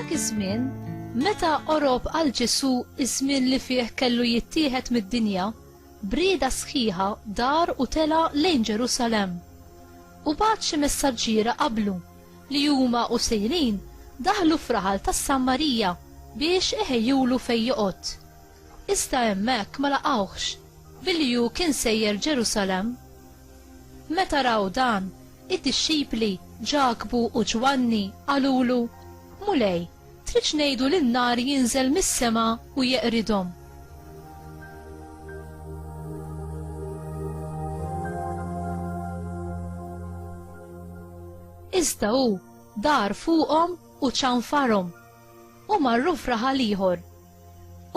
F'dak iż-żmien, meta qorob għal Ġesu iż-żmien li fih kellu jittieħed mid-dinja, brieda sħiħa dar u tela' lejn Ġerusalemm. U bagħat xi messaġġiera qablu li huma u sejrin daħlu f'raħal tas-Sammarija biex iħejjulu fejn joqgħod. Iżda hemmhekk ma laqgħuhx, billi hu kien sejjer Ġerusalemm. Meta raw dan, id-dixxipli, Ġakbu u Ġwanni, qalulu, Mulej, tridx ngħidu li n-nar jinżel mis-sema u jeqridhom? Iżda hu dar fuqhom u ċanfarhom. u marru f'raħal ieħor.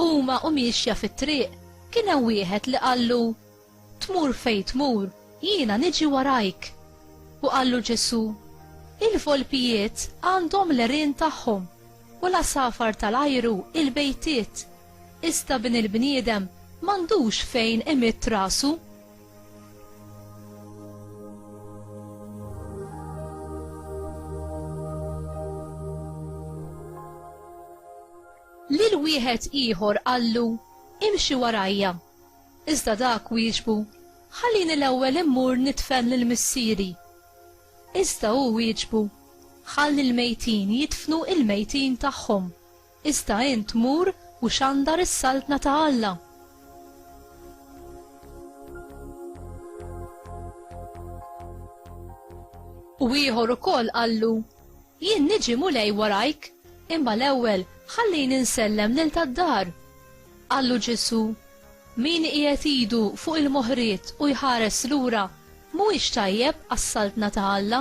Huma u miexja fit-triq kien hemm wieħed li qallu, Tmur fejn tmur, jiena niġi warajk. U qallu Ġesù, Il-volpijiet għandhom l-għerien tagħhom u l-għasafar tal-ajru l-bejtiet, iżda Bin il-bniedem m'għandux fejn imidd rasu. Lil wieħed ieħor qallu, Imxi warajja. Iżda dak wieġbu, Ħallini l-ewwel immur nidfen lil missieri. Iżda hu wieġbu, Ħalli l-mejtin jidfnu l-mejtin tagħhom. Iżda int mur u xandar is-Saltna ta' Alla. U ieħor ukoll qallu, Jien niġi Mulej warajk, imma l-ewwel ħallini nsellem lil tad-dar. Qallu Ġesù, Min iqiegħed idu fuq il-moħriet u jħares lura, mhuwiex tajjeb għas-Saltna ta' Alla.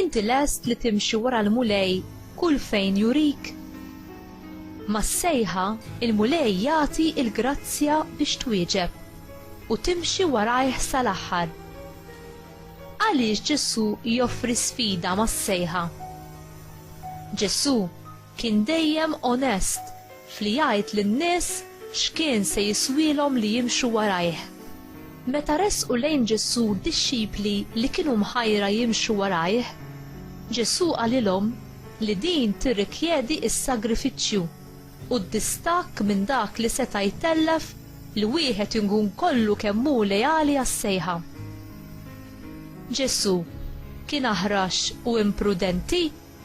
Inti lest li timxi wara l-Mulej kull fejn jurik? Mas-sejħa, il-Mulej jagħti l-grazzja biex twieġeb u timxi warajh sal-aħħar. Għaliex Ġesù joffri sfida mas-sejħa? Ġesù Kien dejjem onest f'li jgħid lin-nies x'kien se jiswielhom li jimxu warajh. Meta resqu lejn Ġesù d-dixxipli li kienu mħajra jimxu warajh, Ġesù qalilhom li din tirrikjedi s-sagrifiċċju u d-distakk minn dak li seta' jtellef li wieħed inkun kollu kemm hu leali għas-sejħa. Ġesù kien aħrax u imprudenti?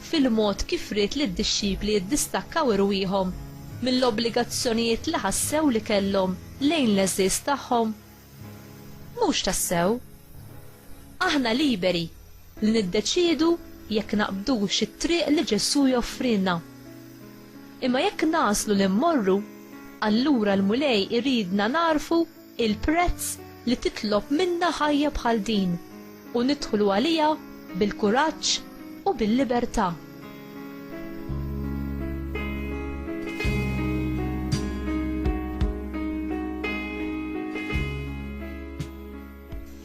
fil-mod kif ried li d-dixxipli jiddistakkaw irwieħhom mill-obbligazzjonijiet li ħassew li kellhom lejn l-għeżież tagħhom? Mhux tassew! Aħna liberi li niddeċiedu jekk naqbdux it-triq li Ġesù joffrilna. Imma jekk nagħżlu li mmorru, allura l-Mulej iridna nagħrfu il-prezz li titlob minna ħajja bħal din u nidħlu għaliha bil-kuraġġ u bil-libertà.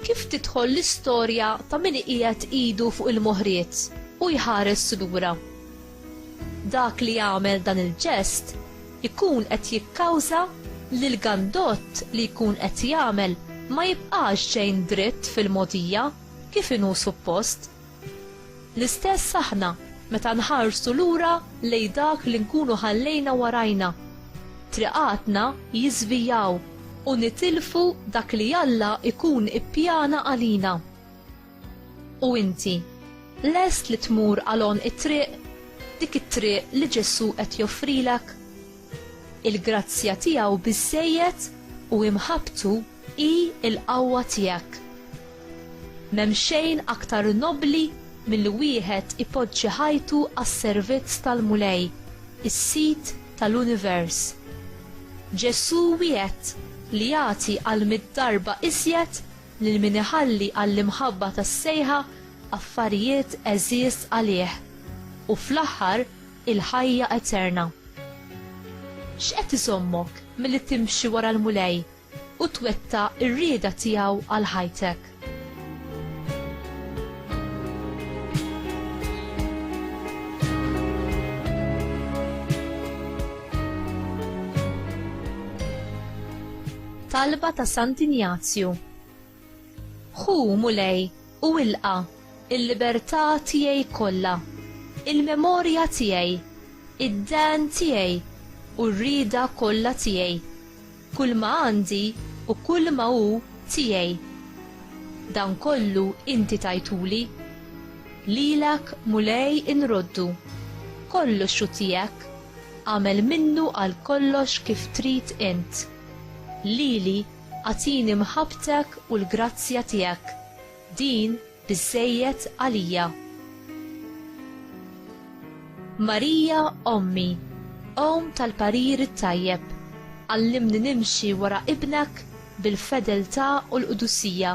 kif tidħol l-istorja ta' min iqiegħed idu fuq il-moħriet u jħares lura. Dak li jagħmel dan il-ġest ikun qed jikkawża li l-gandott li jkun qed jagħmel ma jibqax xejn dritt fil-mogħdija kif inhu suppost. L-istess aħna meta nħarsu lura lejn dak li nkunu ħallejna warajna. Triqatna jiżvijaw u nitilfu dak li Alla jkun ippjana għalina. U inti, lest li tmur għal għonq it-triq, dik it-triq li Ġesù qed joffrilek? Il-grazzja tiegħu biżżejjed u imħabbtu hi l-qawwa tiegħek. M'hemm xejn aktar nobbli milli wieħed ipoġġi ħajtu għas-servizz tal-Mulej, is-Sid tal-univers. Ġesù wiegħed li jagħti għal mitt darba iżjed Lil min iħalli għall-imħabba tas-sejħa affarijiet għeżież għalih, u fl-aħħar il-ħajja eterna. X'qed iżommok milli timxi wara l-Mulej u twettaq ir-rieda tiegħu għal ħajtek? Talba ta' Sant Injazju Ħu, Mulej, u ilqa' il-libertà tiegħi kollha, il-memorja tiegħi, id-dehn tiegħi u r-rieda kollha tiegħi, kulma għandi u kulma hu tiegħi. Dan kollu inti tajtuli. Lilek, Mulej, inroddu. Kollox hu tiegħek. Agħmel minnu għal kollox kif trid int. Lili, agħtini mħabbtek u l-grazzja tiegħek, din biżżejjed għalija. Marija ommi, omm tal-parir it-tajjeb, għallimni nimxi wara Ibnek bil-fedeltà u l-qdusija.